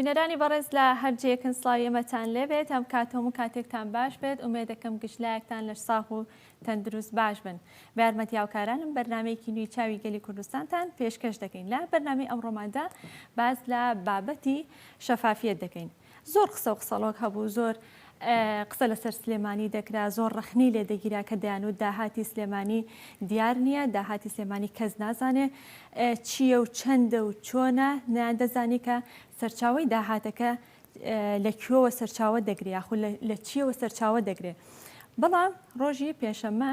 بینەرانی بەڕێز لە هەر جێکن سلاوی ئەمەتان لێبێت ئەم کاتۆم و کاتێکتان باش بێت ئومێ دەکەم گشتلایەکتان لەش ساغ و تەندروست باش بن بارمەتی هاوکارانم بەرنمەیەکی نوی چاوی گەلی کوردستانتان پێشکەش دەکەین لە بەرنامی ئەم ڕۆماندا باز لە بابەتی شەفافیت دەکەین زۆر قسە و قسەڵۆک هەبوو، زۆر قسە لەسەر سلێمانی دەکرا، زۆر ڕەخنەی لێ دەگیرا کە دەیانوت داهاتی سلێمانی دیار نییە، داهاتی سلێمانی کەس نازانێ چییە و چەندە و چۆنە، نەیاندەزانی کە سەرچاوەی داهاتەکە لە کوێوە سەرچاوە دەگرێ یاخود لە چییەوە سەرچاوە دەگرێ. بەڵام ڕۆژی پێنجشەممە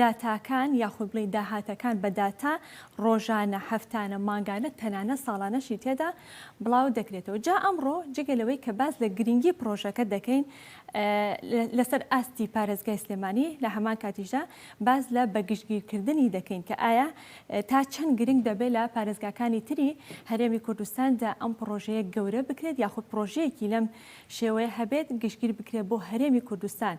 داتاکان یاخود بڵێین داهاتەکان بە داتا ڕۆژانە، هەفتانە، مانگانە تەنانەت ساڵانەشی تێدا بڵاو دەکرێتەوە. جا ئەمڕۆ جگە لەوەی کە باس لە گرنگی پڕۆژەکە دەکەین لەسەر ئاستی پارێزگای سلێمانی لە هەمان کاتیشدا باس لە بە گشتگیرکردنی دەکەین کە ئایا تا چەند گرنگ دەبێت لە پارێزگاکانی تری هەرێمی کوردستاندا ئەم پڕۆژەیە گەورە بکرێت یاخود پڕۆژەیەکی لەم شێوەیە هەبێت گشتگیر بکرێت بۆ هەرێمی کوردستان.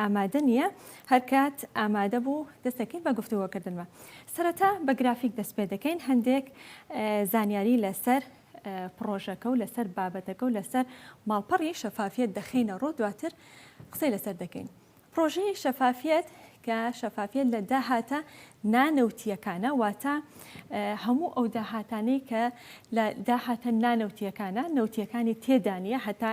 ئامادە نییە، هەرکات ئامادە بوو دەستەکەین بە گفتوگۆکردنوە. سەرەتا بە گرافیک دەست پێ دەکەین، هەندێک زانیاری لەسەر پڕۆژەکە و لەسەر بابەتەکە و لەسەر ماڵپەڕی شەفافیەت دەخەینە ڕوو، دواتر قسەی لەسەر دەکەین. پڕۆژەی شەفافیەت کە شەفافیەت لە داهاتە نانەوتییەکانە، واتە هەموو ئەو داهاتانەی کە لە داهاتە نانەوتییەکانە، نەوتییەکانی تێدا نییە هەتا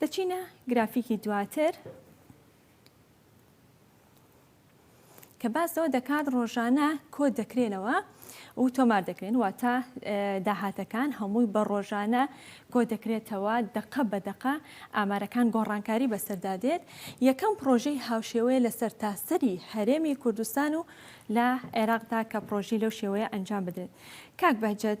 دەچینە گرافیکی دواتر کە باس لەوە دەکات ڕۆژانە کۆ دەکرێنەوە و تۆمار دەکرێن واتە داهاتەکان هەمووی بە ڕۆژانە کۆ دەکرێتەوە دەقە بە دەقە ئامارەکان گۆڕانکاری بەسەردا دێت یەکەم پرۆژەی هاوشێوەیە لە سەرتاسەری هەرێمی کوردستان و لە عێراقدا کە پرۆژی لەو شێوەیە ئەنجام بدرێت کاک بەجد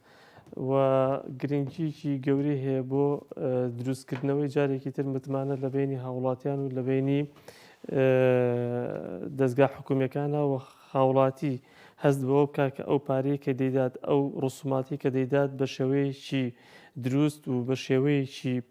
و گرنگییەکی گەورەی هەیە بۆ دروستکردنەوەی جارێکی تر متمانە لە بەینی هاوڵاتیان و لە بەینی دەزگا حکومیەکانە و هاوڵاتی هەست بەوە بکە کە ئەو پارەیە کە دەیدات ئەو ڕسوماتی کە دەیدات بە شێوەیەکی دروست و بە شێوەیەکی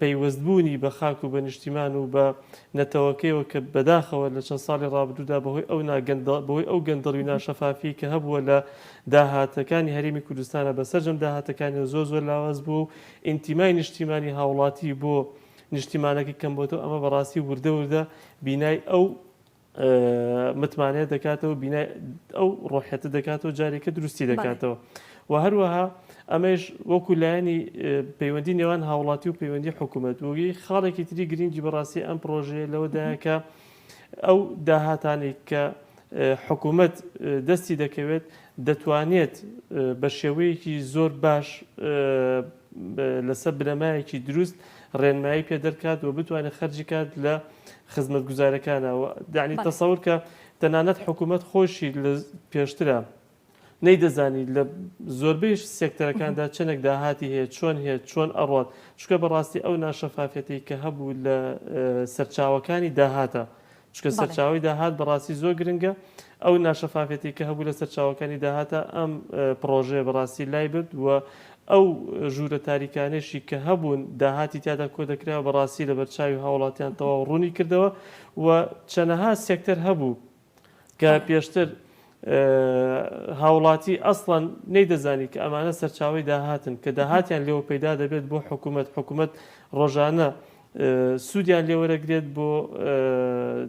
پەیوەستبوونی بە خاک و بە نیشتیمان و بە نەتەوەکەیەوە کە بەداخەوە لە چەند ساڵی ڕابردوودا بەهۆی ئەو نا گەندە بەهۆی ئەو گەندەڵی و ناشەفافیەی کە هەبووە لە داهاتەکانی هەرێمی کوردستانا بە سەرجەم داهاتەکانیەوە زۆر زۆر لاواز بووە و ئینتیمای نیشتیمانی هاوڵاتی بۆ نیشتیمانەکەی کەمبۆتەوە ئەمە بەڕاستی وردە وردە بینای ئەو متمانەیە دەکاتەوە بینای ئەو ڕۆحەتە دەکاتەوە جارێکە دروستی دەکاتەوە و هەروەها ئەمەش وەکو لایەنی پەیوەندی نێوان هاوڵاتی و پەیوەندی حکوومەت وگەی خاڵێکی تری گرنگی بەڕاستی ئەم پرۆژەیە لەوەدایکە ئەو داهاتانی کە حکوومەت دەستی دەکەوێت دەتوانێت بە شێوەیەکی زۆر باش لەسەر بنەمایەکی دروست ڕێنمایی پێ دەرکات و بتوانێت خەرجی کات لە خزمەتگوزارەکانە و یانی تەسەور کە تەنانەت حکوومەت خۆشی لە پێشترە نەیدەزانی لە زۆربەی سێکتەرەکاندا چەندێک داهاتی هەیە چۆن هەیە چۆن ئەڕات چکە بەڕاستی ئەو ناشەفافەتی کە هەبوو لە سەرچاوەکانی داهاتە چکە سەرچاوی داهات بەڕاستی زۆر گرنگە ئەو ناشەفافیەتی کە هەبوو لە سەرچاوەکانی داهاتە ئەم پڕۆژەیە بەڕاستی لایبرد و ئەو ژوورە تاریکانەیشی کە هەبوون داهاتی تیادا کۆدەکرا و بەڕاستی لەبەر چاوی هاوڵاتیان تەواو ڕوونی کردەوە و چەنەها سێکتەر هەبوو کە پێشتر هاوڵاتی ئەسڵەن نەیدەزانی کە ئەمانە سەرچاوەی داهاتن کە داهاتیان لێوە پەیدا دەبێت بۆ حکومەت حکومەت ڕۆژانە سوودیان لێوەرەگرێت بۆ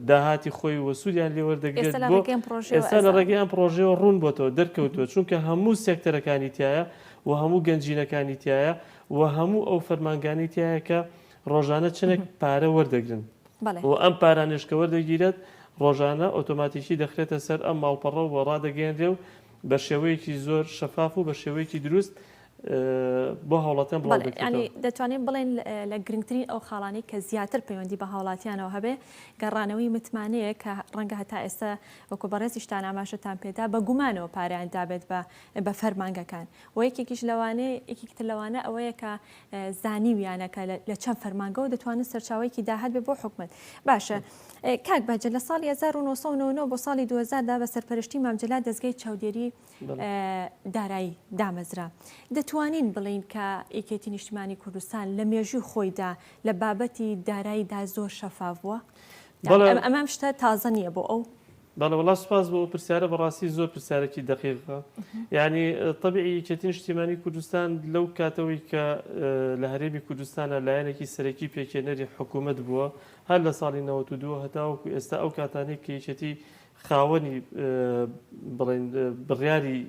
داهاتی خۆی و سوودیان لێوەردەگرێت بۆ ئێستا لە ڕێگەی ئەم پرۆژەوە ڕوون بۆتەوە دەرکەوتووە چونکە هەموو سێکتەرەکانی تایە و هەموو گەنجینەکانی تایە و هەموو ئەو فەرمانگانی تایە کە ڕۆژانە چنێک پارە وەردەگرن و ئەم پارانێشکە وەردەگیرێت ڕۆژانە ئۆتۆماتیکی دەخرێتە سەر ئەم ماڵپەڕە و ڕادەگەیەنرێ و بە شێوەیەکی زۆر شەفاف و بە شێوەیەکی دروست بۆ هاوڵاتیان بڵاو دەکرێتەوە. بەڵێ، یانی دەتوانین بڵێین لە گرنگترین ئەو خاڵانەی کە زیاتر پەیوەندی بە هاوڵاتیانەوە هەبێ، گەڕانەوەی متمانەیە کە ڕەنگە هەتا ئێستا وەکو بەڕێزیشتان ئاماژەتان پێ دا بە گومانەوە پاریان دابێت بە بە فەرمانگەکان و یەکێکیش لەوانەیە یەکێکی تر لەوانە ئەوەیە کە زانیویانە کە لە چەند فەرمانگەوە دەتوانن سەرچاوەیەکی داهات بێ بۆ حکومەت باشە کاک بەجە لە ساڵی 1990 بۆ ساڵی 2000دا بە سەرپەرشتی مامجللا دەستگای چاودێری دارایی دامەزرا. دەتوانین بڵێین کە یەکێتی نیشتمانی کوردستان لە مێژووی خۆیدا لە بابەتی داراییدا زۆر شەفاف بووە؟ ئەمەم شتە تازە نییە بۆ ئەو؟ بەڵێ وەڵا سوپاس بۆ ئەو پرسیارە بەڕاستی زۆر پرسیارێکی دەقیقە یعنی طبعی یەکێتی نیشتیمانی کوردستان لەو کاتەوەی کە لە هەرێمی کوردستانە لایەنێکی سەرەکی پێکێنەری حکوومەت بووە هەر لە ساڵی 92 هەتاوەکو ئێستا ئەو کاتانێک کە یەکێتی خاوەنی بڵێن بڕیاری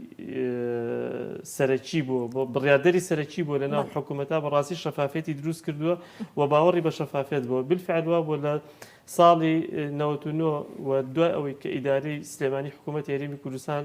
سەرەکی بووە بڕاردەری سەرەکی بووە لە ناو حکوومەتا بە ڕاستی شەفافێتی دروست کردووە و باوەڕی بە شەفافێت بووە بالفعل وا بووە لە ساڵی 99 و دوای ئەوەی کە ئیدارەی سلێمانی حکوومەت هێرێمی کوردستان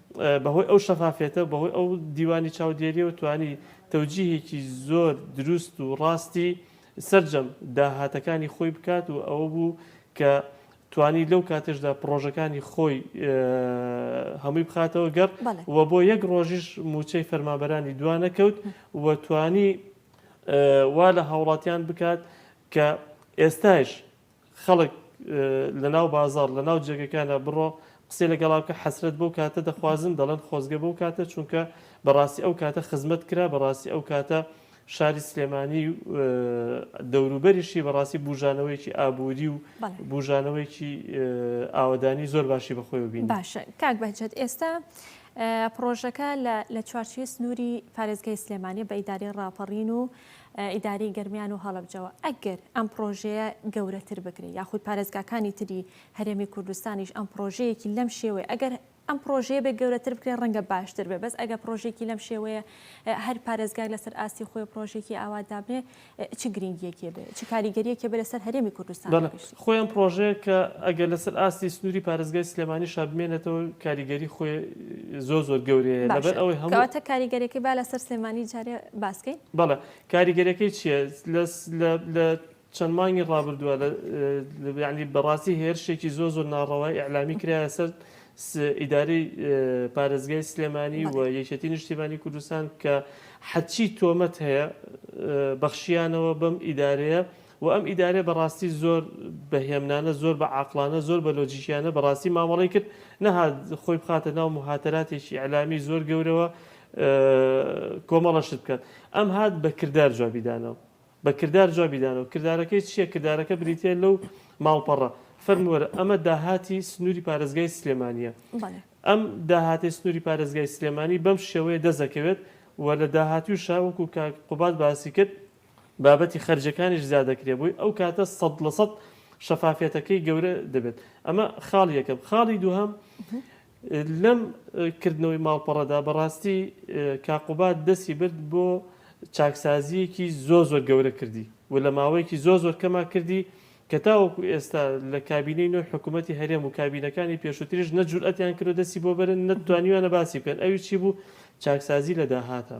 بەهۆی ئەو شەفافیەتە و بەهۆی ئەو دیوانی چاودێریەوە توانی تەوجیهێکی زۆر دروست و ڕاستی سەرجەم داهاتەکانی خۆی بکات و ئەوە بوو کە توانی لەو کاتێشدا پڕۆژەکانی خۆی هەمووی بخاتەوە گەڕ و بۆ یەک ڕۆژیش موچەی فەرمابەرانی دوانەکەوت و توانی وا لە هاوڵاتیان بکات کە ئێستایش خەڵک لە ناو بازاڕ لە ناو جێگەکانا بڕۆ قسەی لەگەڵا بکە حەسرەت بەو کاتە دەخوازن دەڵێن خۆزگە بەو کاتە چونکە بەڕاستی ئەو کاتە خزمەت کرا بەڕاستی ئەو کاتە شاری سلێمانی و دەوروبەریشی بەڕاستی بوژانەوەیکی ئابووری و بوژانەوەیکی ئاوەدانی زۆر باشی بەخۆی بین باشە کاک بەجێت ئێستا پرۆژەکە لە چوارچوی سنووری پارێزگای سلێمانی بە ئیداری ڕاپەڕین و ئیدارەی گەرمیان و هەڵەبجەوە، ئەگەر ئەم پڕۆژەیە گەورەتر بکرێت، یاخود پارێزگاکانی تری هەرێمی کوردستانیش ئەم پڕۆژەیەکی لەم شێوەیە، ئەگەر ئەم پڕۆژەیە بێت گەورەتر بکرێت ڕەنگە باشتر بێت، بەس ئەگەر پڕۆژەیەکی لەم شێوەیە هەر پارێزگاک لەسەر ئاستی خۆی پڕۆژەیەکی ئاوا دابنێت، چ گرینگییەکی هەبێت، چ کاریگەرییەکی هەبێت لەسەر هەرێمی کوردستانیش؟ خۆی ئەم پڕۆژەیە کە ئەگەر لەسەر ئاستی سنووری پارێزگای سلێمانیشا بمێنێتەوە کاریگەری خۆی زۆر زۆر گەورەیە لەبەر ئەوەی هەموو. باشە کەواتە کاریگەریەکەی با لەسەر سلێمانی جارێ باس کەین. بەڵێ کاریگەریەکەی چیە لە چەند مانگی ڕابردووە یانی بەڕاستی هێرشێکی زۆر زۆر ناڕەوای ئیعلامی کرایە سەر ئیدارەی پارێزگای سلێمانی و یەکێتی نیشتیمانی کوردستان کە حەچی تۆمەت هەیە بەخشیانەوە بەم ئیدارەیە وە ئەم ئیدارەیە بەڕاستی زۆر بە هێمنانە زۆر بە عاقڵانە زۆر بە لۆجیکیانە بەڕاستی مامەڵەی کرد نەهات خۆی بخاتە ناو موهاتەراتێکی ئیعلامی زۆر گەورەوە کۆمەڵە شت بکات ئەم هات بە کردار جوابی دانەوە بە کردار جوابی دانەوە کردارەکەی چییە کردارەکە بریتیە لەو ماڵپەڕە فەرموو وەرە ئەمە داهاتی سنووری پارێزگای سلێمانیە بەڵێ ئەم داهاتی سنووری پارێزگای سلێمانی بەم شێوەیە دەست دەکەوێت و لە داهاتووشە وەکوو کاک قوباد باسی کرد بابەتی خەرجەکانیش زیادەکرێ بۆی ئەو کاتە سەد لە سەد شەفافیەتەکەی گەورە دەبێت ئەمە خاڵ یەکەم خاڵی دووهەم لەم کردنەوەی ماڵپەڕەدا بەڕاستی کاقوبات دەستی برد بۆ چاکسازیەکی زۆ زۆر گەورە کردی و لە ماوەیەکی زۆ زۆر کەما کردی کە تاوەکو ئێستا لە کابینەی نوێ حکوومەتتی هەرێم و کابینەکانی پێشوتریش نەجورئەتیان کرۆ دەسی بۆ بەرن نەتوانیوانە باسی بکەن ئەوی چی بوو چاکسازی لە داهاتە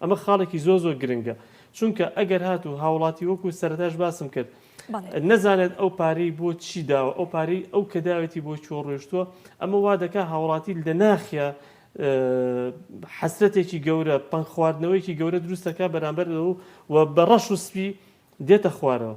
ئەمە خاڵێکی زۆر زۆر گرنگە چونکە ئەگەر هاتوو هاوڵاتی وەکو سەرتاش باسم کرد نەزانێت ئەو پارەی بۆ چی داوە ئەو پارەی ئەو کە داوێتی بۆ چۆ ڕۆشتووە ئەمە وا دەکا هاوڵاتی لە ناخیا حەسرەتێکی گەورە پەنگ خواردنەوەیکی گەورە دروستەکە بەرامبەر و بە ڕەش و سپی دێتە خوارەوە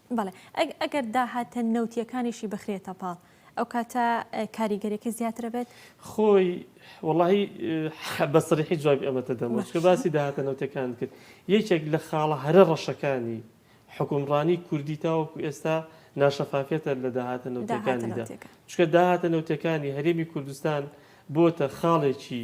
بەڵێ ئەگەر داهاتە نەوتییەکانیشی بخرێتە پاڵ ئەوکاتە کاریگەریەکەی زیاتر ئەبێت؟ خۆی وەڵاهی بە سەریحی جوابی ئەمەتە دەمەوە چکە باسی داهاتە نەوتیەکانت کرد یەکێک لە خاڵە هەرە ڕەشەکانی حکومڕانی کوردی تاوەکو ئێستا ناشەفافیەتە لە داهاتە نەوتیەکانیدا چکە داهاتە نەوتیەکانی هەرێمی کوردستان بۆتە خاڵێکی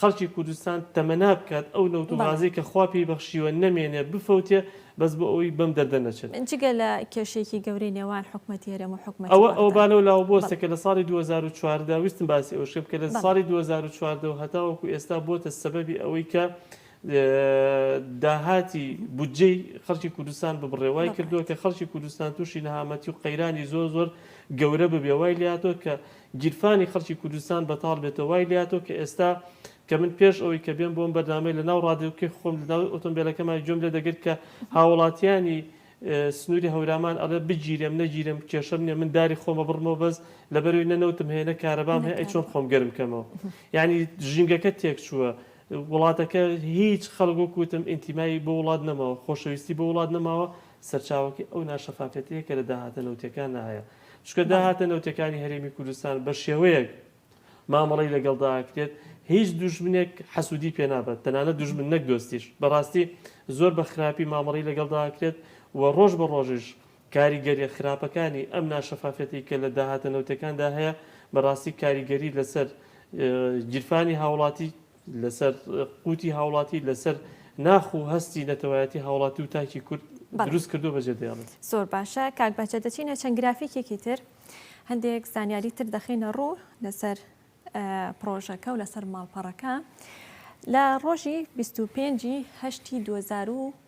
خەڵکی کوردستان تەمەنا بکات ئەو نەوت و غازەی کە خوا پێی بەخشیوە نەمێنێ بفەوتێ بەس بۆ ئەوەی بەم دەردە نەچن. جگە لە کێشەیەکی گەورەی نێوان حکومەتی هەرێم و حکومەتی وڵاتان. ئەوە ئەوە با لەو لاوە بوەستێ کە لە ساڵی دوو هەزار و چواردە ویستم باسی ئەوەش کەم کە لە ساڵی دوو هەزار و چواردە و هەتاوەکو ئێستا بۆتە سەبەبی ئەوەی کە داهاتی بودجەی خەڵکی کوردستان ببڕێ وای کردووە کە خەڵکی کوردستان تووشی نەهامەتی و قەیرانی زۆر زۆر گەورە ببێ وای لاتۆ کە گیرفانی خەڵکی کوردستان بەتاڵ بێتەوە وای لێهاتووە کە ئێستا کە من پێش ئەوەی کە بێم بۆ ئەم بەرنامەی لە ناو ڕادیۆکەی خۆم لە ناو ئۆتۆمبێلەکەما گوێم لێ دەگرت کە هاوڵاتیانی سنووری هەورامان ئەڵێ بگیرێم نەگیرێم کێشەم نییە من داری خۆم ئەبڕمەوە بەس لەبەرەوەی نە نەوتم هەیە نە کارەبام هەیە ئەی چۆن خۆم گەرم کەمەوە یانی ژینگەکە تێک چووە وڵاتەکە هیچ خەڵک وەک وتم ئینتیمای بۆ وڵات نەماوە خۆشەویستی بۆ وڵات نەماوە سەرچاوەکەی ئەو ناشەفافیەتەیە کە لە داهاتە نەوتییەکاندا هەیە چونکە داهاتە نەوتیەکانی هەرێمی کوردستان بە شێوەیەک مامەڵەی لەگەڵدا ئەکرێت هیچ دوژمنێک حەسوودی پێ نابەت تەنانەت دوژمن نەک دۆستیش بەڕاستی زۆر بە خراپی مامەڵی لەگەڵدا ئەکرێت و ڕۆژ بە ڕۆژیش کاریگەریە خراپەکانی ئەم ناشەفافەتی کە لە داهاتە نەوتەکاندا هەیە بەڕاستی کاریگەری لەسەر گیرفانی هاوڵاتی لەسەر قوتی هاوڵاتی، لەسەر ناخ و هەستی نەتەوایەتی هاوڵاتی و تاکی کورد دروست کردوە بەجێ دەێڵێت. زۆر باشە کاک بەهجەت دەچینە چەند گرافیکێکی تر هەندێک زانیاری تر دەخینە ڕوو لەسەر پرۆژەکە و لەسەر ماڵپەڕەکە لە ڕۆژی 25 هەشتی 2020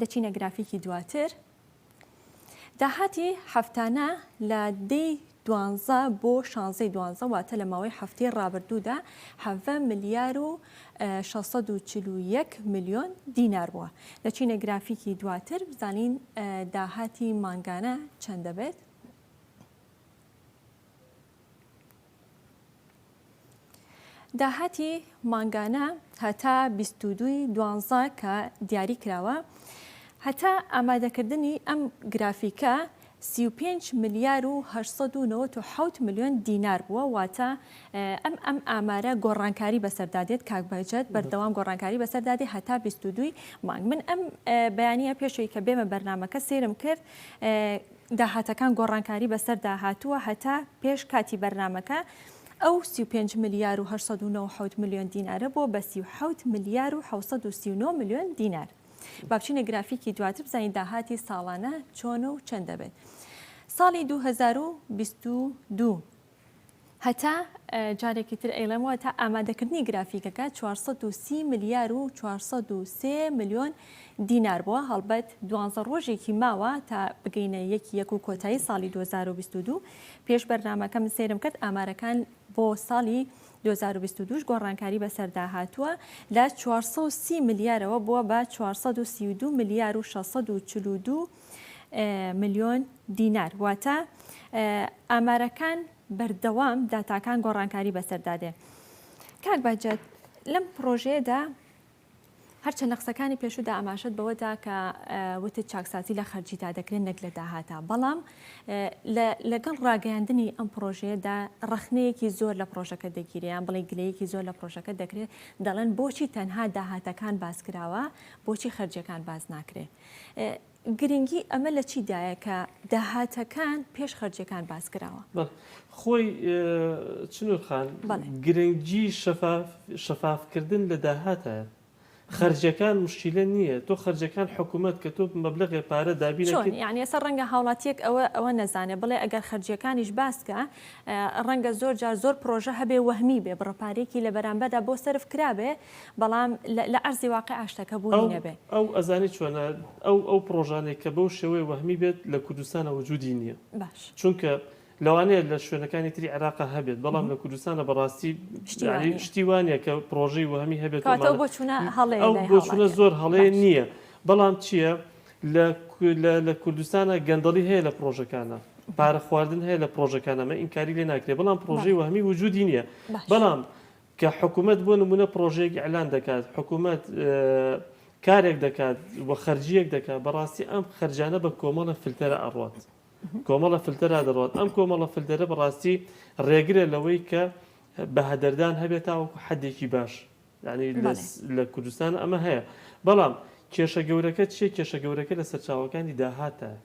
دەچینە گرافیکی دواتر. داهاتی هەفتانە لە دەی دوانزە بۆ شانزەی دوانزە واتە لە ماوەی هەفتەی ڕابردوودا حەڤە ملیار و 641 میلیۆن دینار بووە لە چینە گرافیکی دواتر بزانین داهاتی مانگانە چەند دەبێت. داهاتی مانگانە هەتا بیست و دووی دوانزە کە دیاری کراوە، هەتا ئامادەکردنی ئەم گرافیکە سی و پێنج ملیار و هەشت سەد و نەوەد و حەوت ملیۆن دینار بووە، واتە ئەم ئەم ئامارە گۆڕانکاری بەسەردا دێت کاک بەهجەت، بەردەوام گۆڕانکاری بەسەردا دێت هەتا بیست و دووی مانگ. من ئەم بەیانییە پێش ئەوی کە بێمە بەرنامەکە سەیرم کرد، داهاتەکان گۆڕانکاری بەسەردا هاتووە هەتا پێش کاتی بەرنامەکە ئەو سی و پێنج ملیار و هەشت سەد و نەوەد و حەوت ملیۆن دینارە بووە بە سی و حەوت ملیار و حەوت سەد و سی و نۆ ملیۆن دینار با بچینە گرافیکی دواتر بزانین داهاتی ساڵانە چۆنە و چەند دەبێت ساڵی دوو هەزار و بیست و دوو. هەتا، جارێکی تر ئەیڵێمەوە، هەتا ئامادەکردنی گرافیکەکە چوار سەد و سی ملیار و چوار سەد و سێ ملیۆن دینار بووە، هەڵبەت دوانزە ڕۆژێکی ماوە تا بگەینە یەک ی یەک و کۆتایی ساڵی دوو هەزار و بیست و دوو، پێش بەرنامەکە من سەیرم کرد ئامارەکان بۆ ساڵی دوو هەزار و بیست و دوو ش گۆڕانکاری بەسەردا هاتووە لە چوار سەد و سی ملیارەوە بووە بە چوار سەد و سی و دوو ملیار و شەش سەد و چل و دوو ملیۆن دینار واتە ئامارەکان بەردەوام داتاکان گۆڕانکاری بەسەردادێ کاک باجات لەم پرۆژەیەدا هەرچە لە قسەکانی پێشودا ئاماشت بەوەدا کە وتت چاکسازی لە خەرجیدا دەکرێن نەک لە داهاتا بەڵام لەگەڵ ڕاگەیاندنی ئەم پرۆژەیەدا ڕخنەیەکی زۆر لە پرۆژەکە دەگیریان بڵێ گلەیەکی زۆر لە پرۆژەکە دەکرێت دەڵێن بۆچی تەنها داهاتەکان باس کراوە بۆچی خەرجەکان باز ناکرێت گرنگی ئەمە لە چی دایە کە داهاتەکان پێش خەرجیەکان باس کراوە؟ خۆی چنور خان گرنگی شەفاف کردن لە داهاتە خەرجەکان مشکیلە نییە تۆ خەرجەکان حکوومەت کە تۆ مەبلغێ پارە دابینەوە یعنی ئێستا ڕەنگە هاوڵاتیەک ئەوە ئەوە نەزانێ بڵێ ئەگەر خەرجیەکانیش باسکە ڕەنگە زۆر جار زۆر پرۆژە هەبێ وەهمی بێ بڕە پارێکی لە بەرامبەردا بۆ سەرف کرابێ بەڵام لە ئەرزی واقیع شتەکە بوونی نەبێ. ئەو ئەزانێ چۆنە، ئەو ئەو پڕۆژانەی کە بەو شێوەیە وەهمی بێت لە کوردستانە وجودی نییە. باش. چونکە لەوانەیە لە شوێنەکانی تری عێراقا هەبێت، بەڵام لە کوردستانە بەڕاستی شتی وا نییە. شتی وا نییە کە پڕۆژەی وەهمی هەبێت. کەواتە ئەو بۆچوونە هەڵەیە لای هاوڵاتیان. ئەو بۆچوونە زۆر هەڵەیە نییە. بەڵام چییە؟ لە لە لە کوردستانە گەندەڵی هەیە لە پڕۆژەکانا. پارە خواردن هەیە لە پڕۆژەکانا. مە ئینکاری لێ ناکرێ. بەڵام پڕۆژەی وەهمی وجودی نییە. بەڵام کە حکومەت بۆ نموونە پڕۆژەیەک ئیعلان دەکات، حکومەت کارێک دەکات و خەرجییەک دەکات، بەڕاستی ئەم خەرجانە بە کۆمەڵە فلتەرە ئەڕوات. کۆمەڵە فلتەرا دەڕوات. ئەم کۆمەڵە فلتەرە بەڕاستی ڕێگرە لەوەی کە بەهەدەردان هەبێت تاوەکو حەدێکی باش. یانی لە کوردستان ئەمە هەیە. بەڵام کێشە گەورەکە چییە؟ کێشە گەورەکە لە سەرچاوەکانی داهاتە.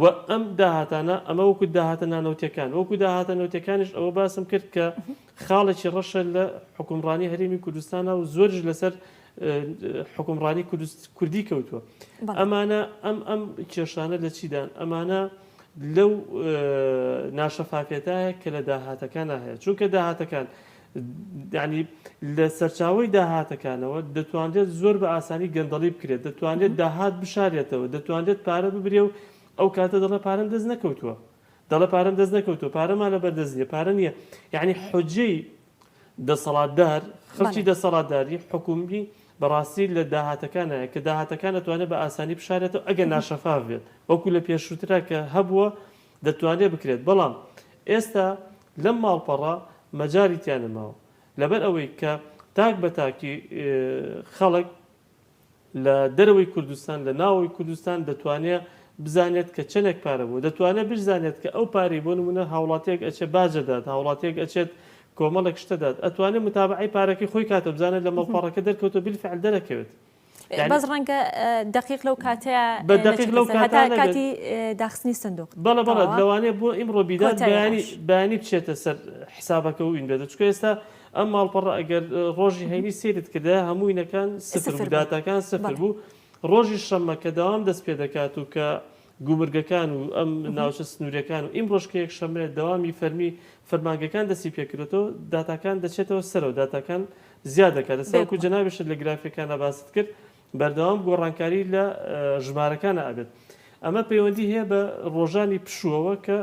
و ئەم داهاتانە ئەمە وەکو داهاتە نانەوتیەکان وەکو داهاتە نەوتەکانیش ئەوە باسم کرد کە خاڵێکی ڕەشە لە حکومڕانی هەرێمی کوردستانە و زۆرش لەسەر حکومڕانی کوردی کەوتووە ئەمانە ئەم ئەم کێشانە لە چیدان ئەمانە لەو ناشەفافێتایە کە لە داهاتەکان هەیە چونکە داهاتەکان یانی لە سەرچاوەی داهاتەکانەوە دەتوانرێت زۆر بە ئاسانی گەندەڵی بکرێت، دەتوانرێت داهات بشارێتەوە، دەتوانرێت پارە ببرێ و ئەو کاتە دەڵێ پارەم دەست نەکەوتووە، دەڵێ پارەم دەست نەکەوتووە، پارەمان لە بەردەست نییە، پارە نییە، یانی حوجەی دەسەڵاتدار، خەڵکی دەسەڵاتداری حکوومی بەڕاستی لە داهاتەکانایە کە داهاتەکان ئەتوانێت بە ئاسانی بشارێتەوە ئەگەر ناشەفاف بێت، وەکوو لە پێشووترا کە هەبووە دەتوانرێت بکرێت، بەڵام ئێستا لەم ماڵپەڕە مەجالی تیا نەماوە، لەبەر ئەوەی کە تاک بە تاکی خەڵک لە دەرەوەی کوردستان، لە ناوەوەی کوردستان دەتوانێت بزانێت کە چەندێک پارە بووە، دەتوانێت بشزانێت کە ئەو پارەی بۆ نموونە هاوڵاتییەک ئەچێت باج ئەدات، هاوڵاتییەک ئەچێت کۆمەڵێک شت ئەدات، ئەتوانێت متابەعەی پارەکەی خۆی کاتەوە، بزانێت لە مەڵپەڕەکە دەرکەوتووە، بالفعل دەرەکەوێت. بەس ڕەنگە دقیق لەو کاتەیە بە دقیق لەو کاتە کاتی داخستنی سندوق بەڵە بەڵە لەوانێ بۆ ئیمڕۆ بیدات بەیانی بەیانی بچێتە سەر حسابەکە و ئینبێتە چکە ئێستا ئەم ماڵپەڕ ئەگەر ڕۆژی هەینی سێرت کردە هەمووینەکان سفر بوو داتاکان سفر بوو ڕۆژی شەممە کە داوام دەست پێ دەکات و کە گومرگەکان و ئەم ناوچە سنوورییەکان و ئیمڕۆش کە یەکشەممەیە دەوامی فەرمی فەرمانگەکان دەستی پێکردۆتەوە داتاکان دەچێتەوە سەرەوە داتاکان زیاد دەکاتە ساوکو جەنابیشت لە گرافیەکانە باست کرد بەردەوام گۆڕانکاری لە ژمارەکانە ئەبێت ئەمە پەیوەندی هەیە بە ڕۆژانی پشووەوە کە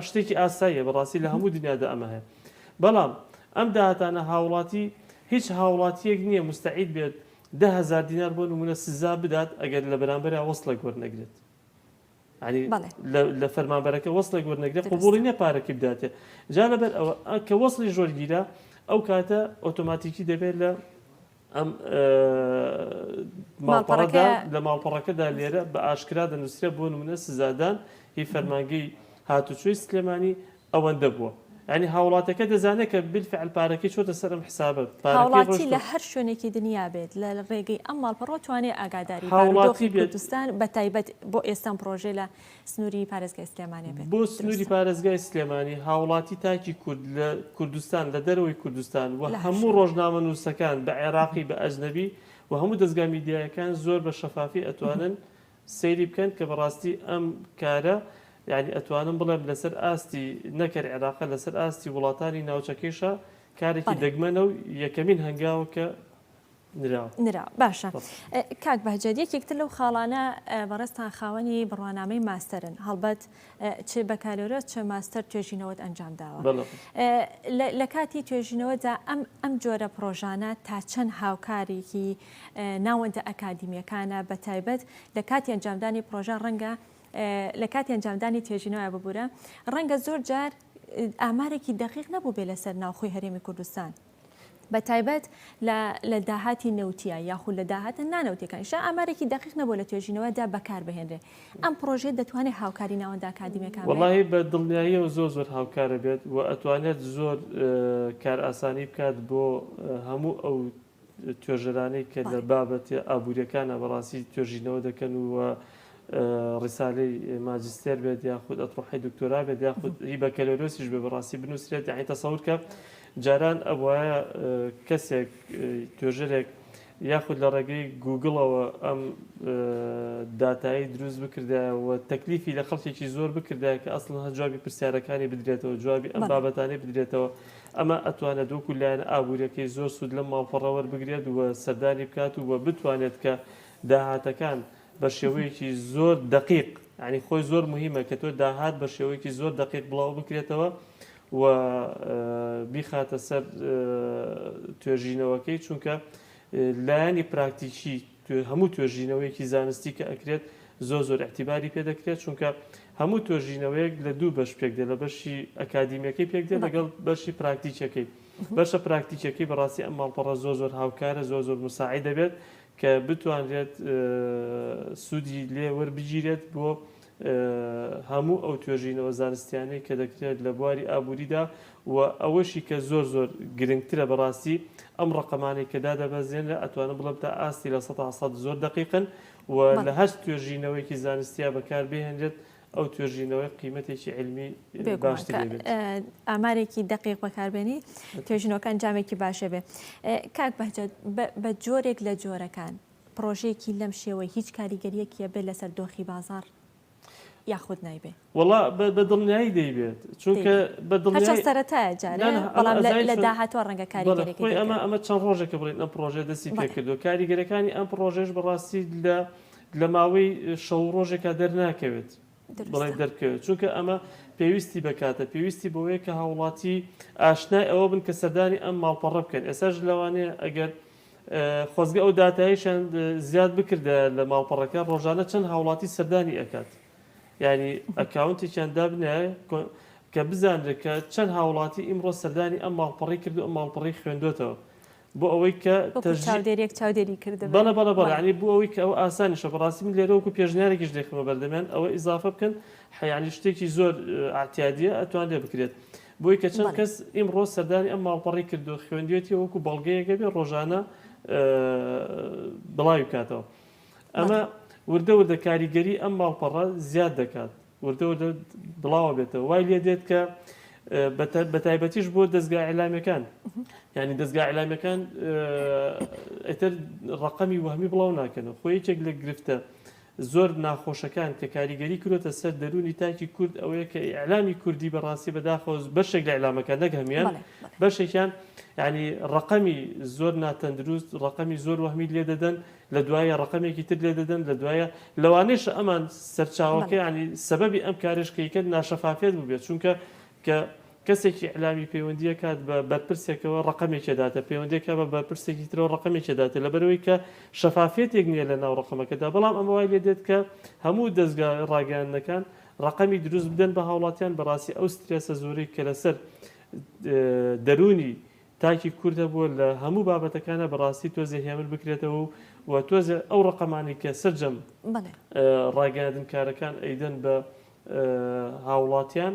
شتێکی ئاساییە بەڕاستی لە هەموو دنیادا ئەمە هەیە بەڵام ئەم داهاتانە هاوڵاتی هیچ هاوڵاتیەک نییە مستعید بێت دە هەزار دینار بۆ نمونە سزا بدات ئەگەر لە بەرامبەرا وەسڵێک وەرنەگرێت ینی بەڵێ لە لە فەرمانبەرەکە وەسڵێک وەرنەگرێت قبوڵی دروستە نیە پارەکەی بداتێ جا لەبەر ئەوە ئە کە وەسڵیش وەرگیرا ئەو کاتە ئۆتۆماتیکی دەبێت لە ئەم ئە ماڵپەڕەکە ماڵپەڕەدا لە ماڵپەڕەکەدا دروستە لێرە بە ئاشکرا دەنووسرێت بۆ نمونە سزادان هی فەرمانگەی هاتوچۆی سلێمانی ئەوەندە بووە یانی هاوڵاتیەکە دەزانێت کە بالفعل پارەکەی چۆتە سەر ئەم حسابە پارەکەی ڕۆشتوە. هاوڵاتی لە هەر شوێنێکی دنیا بێت لە ڕێگەی ئەم ماڵپەڕەوە توانێ ئاگاداری بارودۆخی کوردستان بە تایبەت بۆ ئێستا ئەم پڕۆژەیە لە سنوری پارێزگای سلێمانێ بێت. بۆ سنوری پارێزگای سلێمانی هاوڵاتی تاکی کورد لە کوردستان لە دەرەوەی کوردستان و هەموو ڕۆژنامەنووسەکان بە عێراقی بە ئەجنەبی و هەموو دەزگا میدیایەکان زۆر بە شەفافی ئەتوانن سەیری بکەن کە بەڕاستی ئەم کارە یانی ئەتوانم بڵێم لەسەر ئاستی نەک هەر عێراقە لەسەر ئاستی وڵاتانی ناوچەکەیشە کارێکی بەڵێ. دەگمەنە و یەکەمین هەنگاوە کە نراوە. نراوە. باشە بەس. کاک بەهجەت یەکێک تر لەو خاڵانە بەڕێزتان خاوەنی بڕوانامەی ماستەرن هەڵبەت چ بەکالۆرۆس چ ماستەر توێژینەوەت ئەنجام داوە بەڵێ بەڵێ. لە لە کاتی توێژینەوەدا ئەم ئەم جۆرە پڕۆژانە تا چەند هاوکاریکی ناوەندە ئەکادیمیەکانە بە تایبەت لە کاتی ئەنجامدانی پرۆژە ڕەنگە لە کاتی ئەنجامدانی تێژینەوە ببورە ڕەنگە زۆر جار ئامارێکی دەقیق نەبوو بێ لەسەر ناوخۆی هەرێمی کوردستان بە تایبەت لە داهاتی نەوتیا یاخود لە داهاتە نانەوتەکان شا ئامارێکی دەقیق نەبوو لە توێژینەوەدا بەکار بهێنرێ ئەم پرۆژێت دەتوانێت هاوکاری ناوەندە ئاکادمیەکان وڵی بە دڵنیاییەوە زۆر زۆر هاوکارە بێت و ئەتوانێت زۆر کار ئاسانی بکات بۆ هەموو ئەو توێژەرانەی کە لە بابەتە ئابوورییەکانە بە ڕاستی توێژینەوە دەکەن و ڕیسالەی ماجستێر بێت یاخود ئەتڕحی دکتۆرا بێت یاخود هی بەکەلۆرۆسیش بێ بەڕاستی بنووسرێت یعنی تەسەور کە جاران ئەوایە کەسێک توێژەرێک یاخود لە ڕێگەی گوگڵەوە ئەم داتایی دروست بکردایەوە تەکلیفی لە خەڵکێکی زۆر بکردای کە ئەسڵ هە جوابی پرسیارەکانی بدرێتەوە جوابی ئەم بابەتانی بدرێتەوە ئەمە ئەتوانێت وەکو لایەنە ئابووریەکەی زۆر سوود لەم ماڵپەڕە وەربگرێت و سەردانی بکات و وە بتوانێت کە داهاتەکان بە شێوەیەکی زۆر دەقیق یانی خۆی زۆر موهیمە کە تۆ داهات بە شێوەیەکی زۆر دەقیق بڵاو بکرێتەوە و بیخاتە سەر توێژینەوەکەی چونکە لایەنی پراکتیکی هەموو توێژینەوەیەکی زانستی کە ئەکرێت زۆر زۆر ئیعتیباری پێ دەکرێت چونکە هەموو توێژینەوەیەک لە دوو بەش پێک دێ لە بەشی ئەکادیمیەکەی پێک دێ لەگەڵ بەشی پراکتیکەکەی بەشە پراکتیکەکەی بەڕاستی ئەم ماڵپەڕە زۆر زۆر هاوکارە زۆر زۆر مساعی دەبێت کە بتوانرێت سوودی لێ وەربگیرێت بۆ هەموو ئەو توێژینەوە زانستیانەی کە دەکرێت لە بواری ئابووریدا و ئەوەشی کە زۆر زۆر گرنگترە بەڕاستی ئەم ڕەقەمانەی کە دادەبەزێنرا ئەتوانم بڵێم تا ئاستی لە سەدا سەد زۆر دەقیقن و لە هەرچ توێژینەوەیەکی زانستیا بەکار بهێنرێت ئەو توێژینەوەی قیمەتێکی علمی ئامارێکی دقیق بەکاربێنی توێژینەوەکان جامێکی باشە بێ کاک بەجد بە جۆرێک لە جۆرەکان پڕۆژەیەکی لەم شێوەی هیچ کاریگەریەکی ئەبێ لەسەر دۆخی بازاڕ یاخود نایبێ؟ وەڵا بە دڵنیایی دەیبێت چونکە بە دڵنیایی هەرچەند سەرەتایە جارێ نا نا بەڵام لە لە داهاتووە ڕەنگە کاریگەریەکی بەڵێ خۆی ئەمە ئەمە چەند ڕۆژێکە بڵێین ئەم پڕۆژەیە دەستی بەڵێ پێکردووە کاریگەریەکانی ئەم پڕۆژەیەش بەڕاستی لە لە ماوەی شەو و ڕۆژێکا دەرناکەوێت بڵێین دروستە دەربکەوێت چونکە ئەمە پێویستی بە کاتە پێویستی بەوەیە کە هاوڵاتی ئاشنای ئەوە بن کە سەردانی ئەم ماڵپەڕە بکەن ئێستاش لەوانەیە ئەگەر خۆزگە ئەو داتایەشیان زیاد بکردایە لە ماڵپەڕەکە ڕۆژانە چەند هاوڵاتی سەردانی ئەکات یانی ئەکاونتێکیان دابنایە کە بزانرێت کە چەند هاوڵاتی ئیمڕۆ سەردانی ئەم ماڵپەڕی کرد و ئەم ماڵپەڕی خوێندۆتەوە بۆ ئەوەی کە وەکو چاودێریەک چاودێری کردبێت. بەڵێ بەڵێ بەڵێ یانی بۆ ئەوەی کە ئەوە ئاسانیشە بەڕاستی من لێرە وەکو پێشنیارێکیش دەیخەمە بەردەمیان ئەوە ئیزافە بکەن حەیانی شتێکی زۆر ئەعتیادیە ئەتوان لێ بکرێت بۆی کە چەند کەس ئیمڕۆ سەردانی ئەم ماڵپەڕەی کردووە خوێندوێتی و وەکو بەڵگەیەکە بێ ڕۆژانە بڵاوی بکاتەوە ئەمە وردە وردە کاریگەری ئەم ماڵپەڕە زیاد دەکات وردە وردە بڵاوە بێتەوە وای لێ دێت کە بە تایبەتیش بۆ دەستگا عیلامەکان ینی دەستگا عیلامەکان ئەتر ڕقەمی وەهمی بڵاو ناکەنەوە خۆ یەکێک لە گرفتە زۆر ناخۆشەکان کە کاریگەری کرۆتە سەر دەرونی تاکی کورد ئەوەیە کە ئیعلامی کوردی بە ڕاستی بە داخەوە بەشێک لە ئیعلامەکان نەک هەمیان بەشێکیان یانی ڕەقەمی زۆر ناتەندروست ڕەقەمی زۆر وەهمی لێ دەدەن لە دوایە ڕەقەمێکی تر لێ دەدەن لە دوایە لەوانێشە ئەمان سەرچاوەکە ینی سەبەبی ئەم کارێشکەیکە ناشەفافێت بووبێت چونکە کە کەسێکی ئیعلامی پەیوەندی ئەکات بە بەرپرسێکەوە ڕەقەمێکی ئەداتە پەیوەندی ئەکات بە بەرپرسێکی ترەوە ڕەقەمێکی ئەداتێ لەبەرئەوەی کە شەفافیەتێک نیە لە ناو ڕەقەمەکەدا بەڵام ئەمە وای لێ دێت کە هەموو دەزگا ڕاگەیاندنەکان ڕەقەمی دروست بدەن بە هاوڵاتیان بەڕاستی ئەو سترێسە زۆرەی کە لەسەر دەروونی تاکی کورد هەبووە لە هەموو بابەتەکانە بەڕاستی تۆزێ هێمن بکرێتەوە و و تۆزێ ئەو ڕەقەمانی کە سەرجەم ڕاگەیاندنکارەکان ئەیدەن بە هاوڵاتیان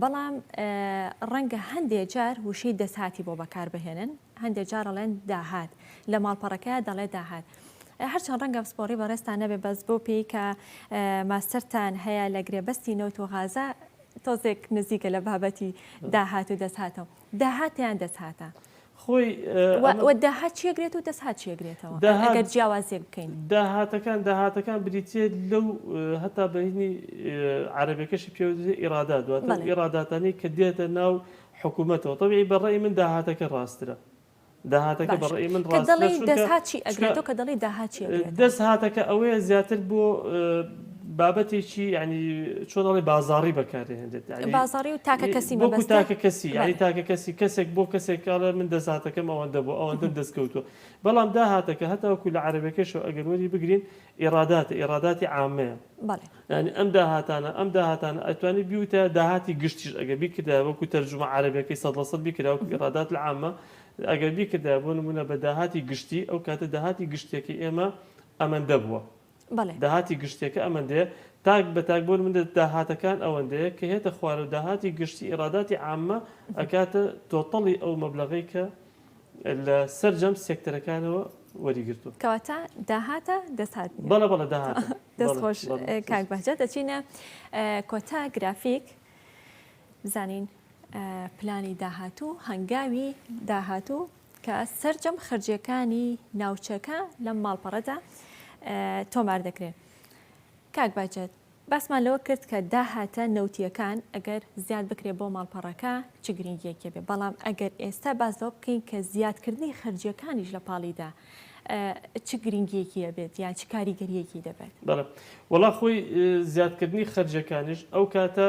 بەڵام ڕەنگە هەندێ جار وشەی دەسهاتی بۆ بەکار بهێنن هەندێ جارەڵێن داهات لە ماڵپەڕەکە دەڵێ داهات. هەرچەند ڕەنگە پسپۆڕی بەڕێستان نەبێ بەس بۆ پێی کە ماستەرتان هەیە لە گرێبەستی نەوت و غازە تۆزێک نزیکە لە بابەتی داهات و دەسهاتەوە. داهاتیان دەستهاتە. خۆی وە داهات چێگرێت و دەستهات چێگرێتەوە ئەگەر جیاوازیەک بکەین. داهاتەکان داهاتەکان بریتیە لەو هەتا بەینی عەرەبەکەشی پێوە دەێت ئیرادات دواتە ئیراداتانی کە دێتە ناو حکوومەتەوە تەبیعی بە ڕێی من داهاتەکە ڕاسترە داهاتەکە بە ڕەئی من ڕاستترە چونکە چونکە دەستهات چی ئەگرێت تۆ کە دەڵێی داهات چی ئەگرێتەوە دەستهاتەکە ئەوەیە زیاتر بۆ بابەتێکی یعنی چۆن ئەڵێ بازاڕی بەکار دەهێنرێت یعنی بازاڕی و تاکە کەسی وەکو مەبەستە تاکە کەسی یعنی بەڵێ تاکە کەسی کەسێک بۆ کەسێک کاڵێ من دەستهاتەکەم ئەوەندە بۆ ئەوەندەم دەستکەوتووە بەڵام داهاتەکە هەتاوەکو لە عەرەبەکەشەوە ئەگەر وەری بگرین ئیڕاداتە، ئیڕاداتی عامەیە. بەڵێ. یانی ئەم داهاتانە، ئەم داهاتانە ئەتوانی بیوتایە داهاتی گشتیش ئەگەر بیکردایە وەکو تەرجومە عەرەبیەکەی سەد لە سەد بیکردایە وەکو ئیڕادات العامە ئەگەر بیکردایە بۆ نمونە بە داهاتی گشتی ئەو کاتە داهاتی گشتیەکەی ئێمە ئەمەندە بووە. بەڵێ. داهاتی گشتیەکە ئەمەندەیە تاک بە تاک بۆ نمونە داهاتەکان ئەوەندەیە کە هێتە خوارەوە داهاتی گشتی ئیڕاداتی عامە ئەکاتە تۆتەڵی ئەو مەبلەغەی کە لە سەرجەم سێکتەرەکانەوە وەریگرتووە. کەواتە داهاتە دەست هات. بەڵێ بەڵێ داهاتە. دەست خۆش کاک بەهجەت دەچینە کۆتا گرافیک بزانین پلانی داهاتوو هەنگاوی داهاتوو کە سەرجەم خرجەکانی ناوچەکە لەم ماڵپەڕەدا تۆمار دەکرێن کاک باجێت باسمان لەوە کرد کە داهاتە نەوتییەکان ئەگەر زیاد بکرێت بۆ ماڵپەڕەکە چ گرنگییەکی هەبێت، بەڵام ئەگەر ئێستا باس لەوە بکەین کە زیادکردنی خەرجییەکانیش لە پاڵیدا چ گرنگییەکی هەبێت یان چ کاریگەرییەکی دەبێت؟ بەڵێ، وەڵا خۆی زیادکردنی خەرجییەکانیش ئەو کاتە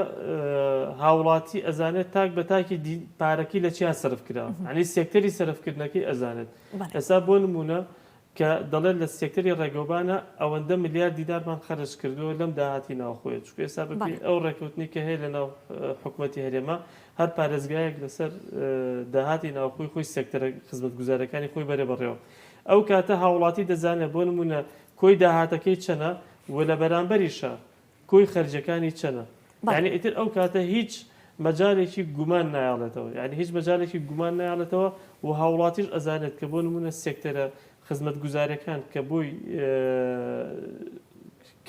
هاوڵاتی ئەزانێت تاک بە تاکی دی پارەکەی لە چیا سەرف کراوە، یانی سێکتەری سەرفکردنەکەی ئەزانێت. ئێستا بۆ نموونە کە دەڵێت لە سێکتەری ڕێگەوبانە ئەوەندە ملیار دینارمان خەرج کردووە لەم داهاتی ناوخۆیە، چونکە ئێستا بە پێی ئەو ڕێکەوتنەی کە هەیە لەناو حکومەتی هەرێمە، هەر پارێزگایەک لەسەر داهاتی ناوخۆی خۆی سێکتەرە خزمەتگوزارەکانی خۆی بەرێ بەڕێوە، ئەو کاتە هاوڵاتی دەزانێت بۆ نموونە کۆی داهاتەکەی چەنە و لە بەرامبەریشە کۆی خەرجیەکانی چەنە یانی ئیتر ئەو کاتە هیچ مەجالێکی گومان نایەڵێتەوە یانی هیچ مەجالێکی گومان نایەڵێتەوە و هاوڵاتیش ئەزانێت کە بۆ نمونە سێکتەرە خزمەتگوزارەکان کە بۆی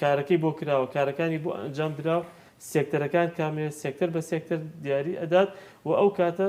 کارەکەی بۆ کراوە کارەکانی بۆ ئەنجام درا سێکتەرەکان کامێ سێکتەر بە سێکتەر دیاری ئەدات و ئەو کاتە